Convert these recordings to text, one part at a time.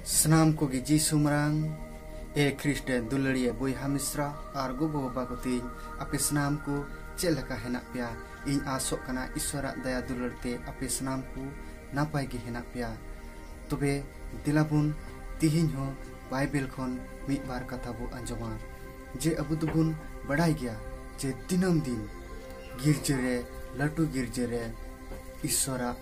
ᱥᱟᱱᱟᱢ ᱠᱚᱜᱮ ᱡᱤᱥᱩ ᱢᱟᱨᱟᱝ ᱮ ᱠᱷᱨᱤᱥᱴ ᱫᱩᱞᱟᱹᱲᱤᱭᱟᱹ ᱵᱚᱭᱦᱟ ᱢᱤᱥᱨᱟ ᱟᱨ ᱜᱚᱜᱚ ᱵᱟᱵᱟ ᱠᱚ ᱛᱤᱧ ᱟᱯᱮ ᱥᱟᱱᱟᱢ ᱠᱚ ᱪᱮᱫ ᱞᱮᱠᱟ ᱦᱮᱱᱟᱜ ᱯᱮᱭᱟ ᱤᱧ ᱟᱥᱚᱜ ᱠᱟᱱᱟ ᱤᱥᱣᱟᱨᱟᱜ ᱫᱟᱭᱟ ᱫᱩᱞᱟᱹᱲ ᱛᱮ ᱟᱯᱮ ᱥᱟᱱᱟᱢ ᱠᱚ ᱱᱟᱯᱟᱭ ᱜᱮ ᱦᱮᱱᱟᱜ ᱯᱮᱭᱟ ᱛᱚᱵᱮ ᱫᱮᱞᱟ ᱵᱚᱱ ᱛᱤᱦᱤᱧ ᱦᱚᱸ ᱵᱟᱭᱵᱮᱞ ᱠᱷᱚᱱ ᱢᱤᱫ ᱵᱟᱨ ᱠᱟᱛᱷᱟ ᱵᱚ ᱟᱸᱡᱚᱢᱟ ᱡᱮ ᱟᱵᱚ ᱫᱚᱵᱚᱱ ᱵᱟᱰᱟᱭ ᱜᱮᱭᱟ ᱡᱮ ᱫᱤᱱᱟᱹᱢ ᱫᱤᱱ ᱜᱤᱨᱡᱟᱹ ᱨᱮ ᱞᱟᱹᱴᱩ ᱜᱤᱨᱡᱟᱹ ᱨᱮ ᱤᱥᱣᱟᱨᱟᱜ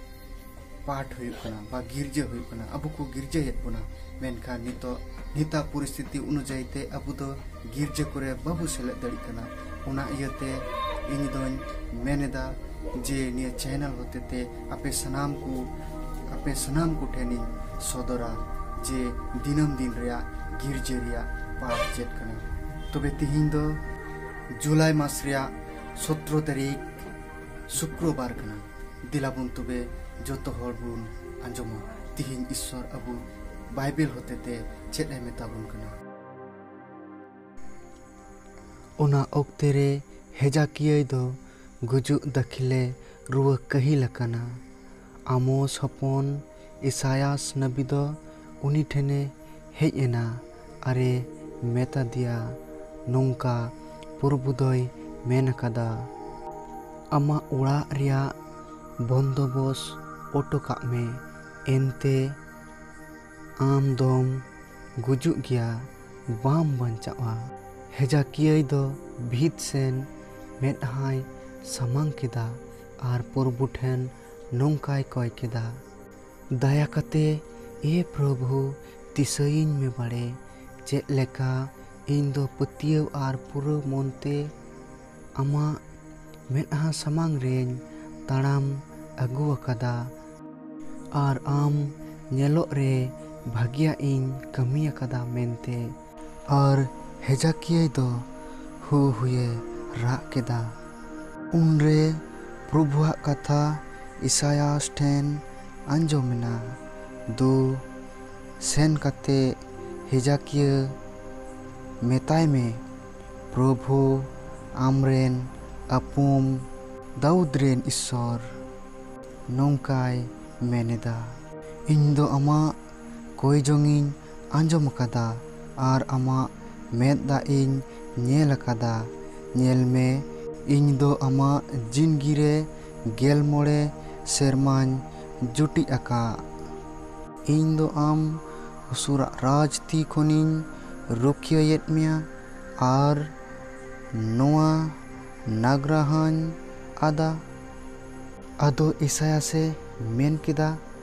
ᱯᱟᱴ ᱦᱩᱭᱩᱜ ᱠᱟᱱᱟ ᱵᱟ ᱜᱤᱨᱡᱟᱹ ᱦᱩᱭᱩᱜ ᱠᱟᱱᱟ ᱟᱵᱚ ᱠᱚ ᱜᱤᱨᱡᱟᱹᱭᱮᱫ ᱵᱚᱱᱟ ᱢᱮᱱᱠᱷᱟᱱ ᱱᱤᱛᱚᱜ ᱱᱤᱛᱟ ᱯᱚᱨᱤᱥᱛᱷᱤᱛᱤ ᱚᱱᱩᱡᱟᱭᱤ ᱛᱮ ᱟᱵᱚ ᱫᱚ ᱜᱤᱨᱡᱟᱹ ᱠᱚᱨᱮ ᱵᱟᱵᱚ ᱥᱮᱞᱮᱫ ᱫᱟᱲᱮᱜ ᱠᱟᱱᱟ ᱚᱱᱟ ᱤᱭᱟᱹᱛᱮ ᱤᱧ ᱫᱚᱧ ᱢᱮᱱᱮᱫᱟ ᱡᱮ ᱱᱤᱭᱟᱹ ᱪᱮᱱᱮᱞ ᱦᱚᱛᱮᱛᱮ ᱟᱯᱮ ᱥᱟᱱᱟᱢ ᱠᱚ ᱟᱯᱮ ᱥᱟᱱᱟᱢ ᱠᱚ ᱴᱷᱮᱱᱤᱧ ᱥᱚᱫᱚᱨᱟ ᱡᱮ ᱫᱤᱱᱟᱹᱢ ᱫᱤᱱ ᱨᱮᱭᱟᱜ ᱜᱤᱨᱡᱟᱹ ᱨᱮᱭᱟᱜ ᱯᱟᱴ ᱪᱮᱫ ᱠᱟᱱᱟ ᱛᱚᱵᱮ ᱛᱤᱦᱤᱧ ᱫᱚ ᱡᱩᱞᱟᱭ ᱢᱟᱥ ᱨᱮᱭᱟᱜ ᱥᱚᱛᱨᱚ ᱛᱟᱹᱨᱤᱠᱷ ᱥᱩᱠᱨᱚᱵᱟᱨ ᱠᱟᱱᱟ ᱫᱮᱞᱟ ᱵᱚᱱ ᱛᱚᱵᱮ ᱡᱚᱛᱚ ᱦᱚᱲ ᱵᱚᱱ ᱟᱸᱡᱚᱢᱟ ᱛᱤᱦᱤᱧ ᱤᱥᱥᱚᱨ ᱟᱵᱚ ᱵᱟᱭᱵᱮᱞ ᱦᱚᱛᱮᱛᱮ ᱪᱮᱫ ᱮ ᱢᱮᱛᱟ ᱵᱚᱱ ᱠᱟᱱᱟ ᱚᱱᱟ ᱚᱠᱛᱮ ᱨᱮ ᱦᱮᱡᱟᱠᱤᱭᱟᱹᱭ ᱫᱚ ᱜᱩᱡᱩᱜ ᱫᱟᱹᱠᱷᱤᱞᱮ ᱨᱩᱣᱟᱹ ᱠᱟᱹᱦᱤᱞ ᱟᱠᱟᱱᱟ ᱟᱢᱳᱥ ᱦᱚᱯᱚᱱ ᱤᱥᱟᱭᱟᱥ ᱱᱟᱹᱵᱤ ᱫᱚ ᱩᱱᱤ ᱴᱷᱮᱱᱮ ᱦᱮᱡ ᱮᱱᱟ ᱟᱨᱮ ᱢᱮᱛᱟ ᱫᱮᱭᱟ, ᱱᱚᱝᱠᱟ ᱯᱚᱨᱵᱷᱩ ᱫᱚᱭ ᱢᱮᱱ ᱟᱠᱟᱫᱟ, ᱟᱢᱟᱜ ᱚᱲᱟᱜ ᱨᱮᱭᱟᱜ ᱵᱚᱱᱫᱚᱵᱚᱥ ᱚᱴᱚ ᱠᱟᱜ ᱢᱮ, ᱮᱱᱛᱮ ᱟᱢ ᱫᱚᱢ ᱜᱩᱡᱩᱜ ᱜᱮᱭᱟ, ᱵᱟᱢ ᱵᱟᱧᱪᱟᱣᱜᱼᱟ᱾ ᱦᱮᱡᱟᱠᱤᱭᱟᱹᱭ ᱫᱚ ᱵᱷᱤᱛ ᱥᱮᱱ ᱢᱮᱫᱦᱟᱸᱭ ᱥᱟᱢᱟᱝ ᱠᱮᱫᱟ, ᱟᱨ ᱯᱨᱚᱵᱷᱩ ᱴᱷᱮᱱ ᱱᱚᱝᱠᱟᱭ ᱠᱚᱭ ᱠᱮᱫᱟ, ᱫᱟᱭᱟ ᱠᱟᱛᱮ ᱮ ᱯᱨᱚᱵᱷᱩ ᱫᱤᱥᱟᱹᱭᱤᱧ ᱢᱮ ᱵᱟᱲᱮ ᱪᱮᱫ ᱞᱮᱠᱟ ᱤᱧ ᱫᱚ ᱯᱟᱹᱛᱭᱟᱹᱣ ᱟᱨ ᱯᱩᱨᱟᱹ ᱢᱚᱱ ᱛᱮ ᱟᱢᱟᱜ ᱢᱮᱫᱦᱟ ᱥᱟᱢᱟᱝ ᱨᱮᱧ ᱛᱟᱲᱟᱢ ᱟᱹᱜᱩ ᱟᱠᱟᱫᱟ, ᱟᱨ ᱟᱢ ᱧᱮᱞᱚᱜ ᱨᱮ ᱵᱷᱟᱹᱜᱤᱭᱟᱜ ᱤᱧ ᱠᱟᱹᱢᱤ ᱟᱠᱟᱫᱟ ᱢᱮᱱᱛᱮ᱾ ᱟᱨ ᱦᱮᱡᱟᱠᱤᱭᱟᱹᱭ ᱫᱚ ᱦᱩ ᱦᱩᱭᱮ ᱨᱟᱜ ᱠᱮᱫᱟ᱾ ᱩᱱᱨᱮ ᱯᱨᱚᱵᱷᱩᱣᱟᱜ ᱠᱟᱛᱷᱟ ᱤᱥᱟᱭᱟᱥ ᱴᱷᱮᱱ ᱟᱸᱡᱚᱢ ᱮᱱᱟ, ᱫᱩ ᱥᱮᱱ ᱠᱟᱛᱮ ᱦᱮᱡᱟᱠᱤᱭᱟᱹ ᱢᱮᱛᱟᱭ ᱢᱮ, ᱯᱨᱚᱵᱷᱩ ᱟᱢᱨᱮᱱ ᱟᱹᱯᱩᱢ ᱫᱟᱣᱩᱫᱽ ᱨᱮᱱ ᱤᱥᱥᱚᱨ ᱱᱚᱝᱠᱟᱭ ᱢᱮᱱᱮᱫᱟ᱾ ᱤᱧ ᱫᱚ ᱟᱢᱟᱜ᱾ ᱠᱚᱭ ᱡᱚᱝ ᱤᱧ ᱟᱸᱡᱚᱢ ᱟᱠᱟᱫᱟ ᱟᱨ ᱟᱢᱟᱜ ᱢᱮᱫ ᱫᱟᱜ ᱤᱧ ᱧᱮᱞ ᱟᱠᱟᱫᱟ᱾ ᱧᱮᱞ ᱢᱮ, ᱤᱧ ᱫᱚ ᱟᱢᱟᱜ ᱡᱤᱱᱜᱤ ᱨᱮ ᱜᱮᱞ ᱢᱚᱬᱮ ᱥᱮᱨᱢᱟᱧ ᱡᱩᱴᱤᱡ ᱟᱠᱟᱫ᱾ ᱤᱧ ᱫᱚ ᱟᱢ ᱚᱥᱩᱨᱟᱜ ᱨᱟᱡᱽ ᱛᱤ ᱠᱷᱚᱱᱤᱧ ᱨᱩᱠᱷᱤᱭᱟᱹᱭᱮᱫ ᱢᱮᱭᱟ ᱟᱨ ᱱᱚᱶᱟ ᱱᱟᱜᱽᱨᱟ ᱦᱚᱸᱧ ᱟᱫᱟ᱾ ᱟᱫᱚ ᱤᱥᱟᱭᱟᱥ ᱮ ᱢᱮᱱ ᱠᱮᱫᱟ᱾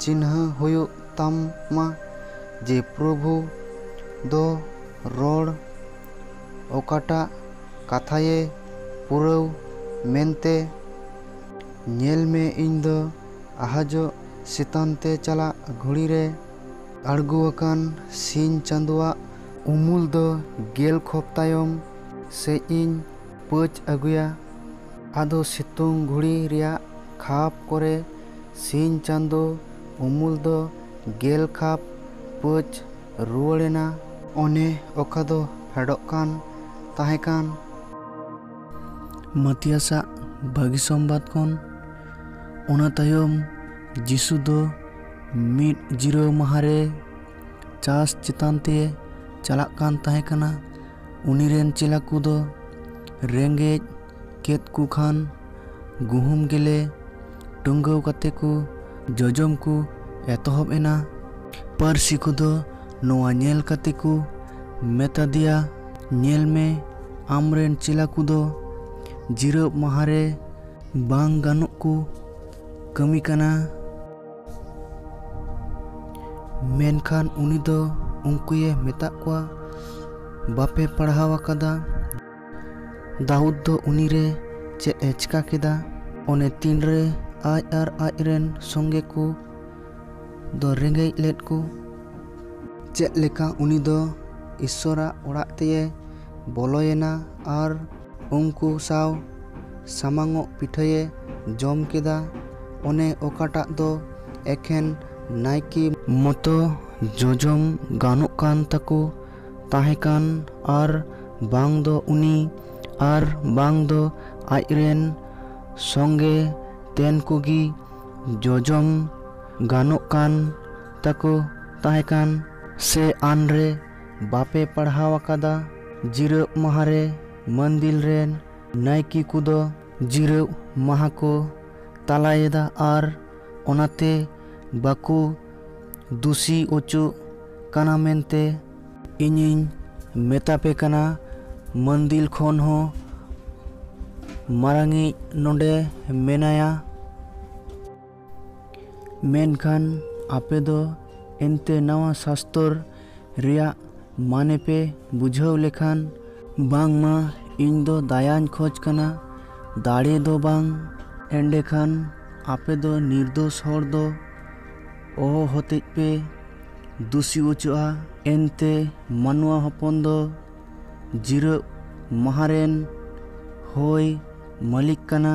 ᱪᱤᱱᱦᱟᱹ ᱦᱩᱭᱩᱜ ᱛᱟᱢᱟ ᱡᱮ ᱯᱨᱚᱵᱷᱩ ᱫᱚ ᱨᱚᱲ ᱚᱠᱟᱴᱟᱜ ᱠᱟᱛᱷᱟᱭᱮ ᱯᱩᱨᱟᱹᱣ ᱢᱮᱱᱛᱮ᱾ ᱧᱮᱞ ᱢᱮ ᱤᱧ ᱫᱚ ᱟᱦᱟᱡᱚᱜ ᱥᱤᱛᱟᱱ ᱛᱮ ᱪᱟᱞᱟᱜ ᱜᱷᱩᱲᱤ ᱨᱮ᱾ ᱟᱬᱜᱚ ᱟᱠᱟᱱ ᱥᱤᱧ ᱪᱟᱸᱫᱚᱣᱟᱜ᱾ ᱩᱢᱩᱞ ᱫᱚ ᱜᱮᱞ ᱠᱷᱚᱯ ᱛᱟᱭᱚᱢ ᱥᱮᱡ ᱤᱧ ᱯᱟᱹᱪ ᱟᱹᱜᱩᱭᱟ᱾ ᱟᱫᱚ ᱥᱤᱛᱩᱝ ᱜᱷᱩᱲᱤ ᱨᱮᱭᱟᱜ ᱠᱷᱟᱯ ᱠᱚᱨᱮ ᱥᱤᱧ ᱪᱟᱸᱫᱚ ᱩᱢᱩᱞ ᱫᱚ ᱜᱮᱞ ᱠᱷᱟᱯ ᱯᱟᱹᱪ ᱨᱩᱣᱟᱹᱲ ᱮᱱᱟ᱾ ᱚᱱᱮ ᱚᱠᱟ ᱫᱚ ᱯᱷᱮᱰᱚᱜ ᱠᱟᱱ ᱛᱟᱦᱮᱸ ᱠᱟᱱ᱾ ᱢᱟᱛᱤᱭᱟᱥ ᱟᱜ ᱵᱷᱟᱹᱜᱤ ᱥᱚᱢᱵᱟᱫᱽ ᱠᱷᱚᱱ᱾ ᱚᱱᱟ ᱛᱟᱭᱚᱢ ᱡᱤᱥᱩ ᱫᱚ ᱢᱤᱫ ᱡᱤᱨᱟᱹᱣ ᱢᱟᱦᱟᱸ ᱨᱮ ᱪᱟᱥ ᱪᱮᱛᱟᱱ ᱛᱮᱭ ᱪᱟᱞᱟᱜ ᱠᱟᱱ ᱛᱟᱦᱮᱸ ᱠᱟᱱᱟ᱾ ᱩᱱᱤ ᱨᱮᱱ ᱪᱮᱞᱟ ᱠᱚ ᱫᱚ ᱨᱮᱸᱜᱮᱡ᱾ ᱠᱮᱫ ᱠᱚ ᱠᱷᱟᱱ ᱜᱩᱦᱩᱢ ᱜᱮᱞᱮ ᱴᱩᱝᱜᱟᱹᱣ ᱠᱟᱛᱮ ᱠᱚ ᱡᱚᱡᱚᱢ ᱠᱚ ᱮᱛᱚᱦᱚᱵ ᱮᱱᱟ᱾ ᱯᱟᱹᱨᱥᱤ ᱠᱚᱫᱚ ᱱᱚᱣᱟ ᱧᱮᱞ ᱠᱟᱛᱮ ᱠᱚ ᱢᱮᱛᱟᱫᱮᱭᱟ, ᱧᱮᱞ ᱢᱮ ᱟᱢ ᱨᱮᱱ ᱪᱮᱞᱟ ᱠᱚᱫᱚ ᱡᱤᱨᱟᱹᱵ ᱢᱟᱦᱟᱸ ᱨᱮ ᱵᱟᱝ ᱜᱟᱱᱚᱜ ᱠᱚ ᱠᱟᱹᱢᱤ ᱠᱟᱱᱟ᱾ ᱢᱮᱱᱠᱷᱟᱱ ᱩᱱᱤ ᱫᱚ ᱩᱱᱠᱩᱭᱮ ᱢᱮᱛᱟᱫ ᱠᱚᱣᱟ, ᱵᱟᱯᱮ ᱯᱟᱲᱦᱟᱣ ᱟᱠᱟᱫᱟ᱾ ᱫᱟᱣᱩᱫ ᱫᱚ ᱩᱱᱤ ᱨᱮ ᱪᱮᱫ ᱮ ᱪᱤᱠᱟ ᱠᱮᱫᱟ ᱚᱱᱮ ᱛᱤᱱ ᱨᱮ ᱟᱡ ᱟᱨ ᱟᱡ ᱨᱮᱱ ᱥᱚᱸᱜᱮ ᱠᱚ ᱫᱚ ᱨᱮᱸᱜᱮᱡ ᱞᱮᱫ ᱠᱚ ᱪᱮᱫ ᱞᱮᱠᱟ ᱩᱱᱤ ᱫᱚ ᱤᱥᱥᱚᱨᱟᱜ ᱚᱲᱟᱜ ᱛᱮᱭᱮ ᱵᱚᱞᱚᱭᱮᱱᱟ ᱟᱨ ᱩᱱᱠᱩ ᱥᱟᱶ ᱥᱟᱢᱟᱝᱚᱜ ᱯᱤᱴᱷᱟᱹᱭᱮ ᱡᱚᱢ ᱠᱮᱫᱟ ᱚᱱᱮ ᱚᱠᱟᱴᱟᱜ ᱫᱚ ᱮᱠᱷᱮᱱ ᱱᱟᱭᱠᱮ ᱢᱚᱛᱚ ᱡᱚᱡᱚᱢ ᱜᱟᱱᱚᱜ ᱠᱟᱱ ᱛᱟᱠᱚ ᱛᱟᱦᱮᱸ ᱠᱟᱱ ᱟᱨ ᱵᱟᱝ ᱫᱚ ᱩᱱᱤ ᱟᱨ ᱵᱟᱝ ᱫᱚ ᱟᱡ ᱨᱮᱱ ᱥᱚᱸᱜᱮ ᱛᱮᱱ ᱠᱚᱜᱮ ᱡᱚᱡᱚᱢ ᱜᱟᱱᱚᱜ ᱠᱟᱱ ᱛᱟᱠᱚ ᱛᱟᱦᱮᱸ ᱠᱟᱱ᱾ ᱥᱮ ᱟᱱ ᱨᱮ ᱵᱟᱯᱮ ᱯᱟᱲᱦᱟᱣ ᱟᱠᱟᱫᱟ? ᱡᱤᱨᱟᱹᱜ ᱢᱟᱦᱟ ᱨᱮ ᱢᱟᱹᱱᱫᱤᱞ ᱨᱮᱱ ᱱᱟᱭᱠᱮ ᱠᱚᱫᱚ ᱡᱤᱨᱟᱹᱜ ᱢᱟᱦᱟ ᱠᱚ ᱛᱟᱞᱟᱭᱮᱫᱟ ᱟᱨ ᱚᱱᱟᱛᱮ ᱵᱟᱠᱚ ᱫᱩᱥᱤ ᱚᱪᱚᱜ ᱠᱟᱱᱟ ᱢᱮᱱᱛᱮ᱾ ᱤᱧᱤᱧ ᱢᱮᱛᱟᱯᱮ ᱠᱟᱱᱟ ᱢᱟᱹᱱᱫᱤᱞ ᱠᱷᱚᱱ ᱦᱚᱸ ᱢᱟᱨᱟᱝᱤᱡ ᱱᱚᱸᱰᱮ ᱢᱮᱱᱟᱭᱟ᱾ ᱢᱮᱱᱠᱷᱟᱱ ᱟᱯᱮ ᱫᱚ ᱮᱱᱛᱮ ᱱᱟᱶᱟ ᱥᱟᱥᱛᱚᱨ ᱨᱮᱭᱟᱜ ᱢᱟᱱᱮ ᱯᱮ ᱵᱩᱡᱷᱟᱹᱣ ᱞᱮᱠᱷᱟᱱ᱾ ᱵᱟᱝᱢᱟ ᱤᱧ ᱫᱚ ᱫᱟᱭᱟᱧ ᱠᱷᱚᱡᱽ ᱠᱟᱱᱟ, ᱫᱟᱲᱮ ᱫᱚ ᱵᱟᱝ᱾ ᱮᱸᱰᱮᱠᱷᱟᱱ ᱟᱯᱮ ᱫᱚ ᱱᱤᱨᱫᱳᱥ ᱦᱚᱲ ᱫᱚ᱾ ᱚᱦᱚ ᱦᱚᱛᱮᱡ ᱯᱮ ᱫᱩᱥᱤ ᱚᱪᱚᱜᱼᱟ ᱮᱱᱛᱮ ᱢᱟᱱᱣᱟ ᱦᱚᱯᱚᱱ ᱫᱚ ᱡᱤᱨᱟᱹᱜ ᱢᱟᱦᱟ ᱨᱮᱱ ᱦᱚᱭ ᱢᱟᱹᱞᱤᱠ ᱠᱟᱱᱟ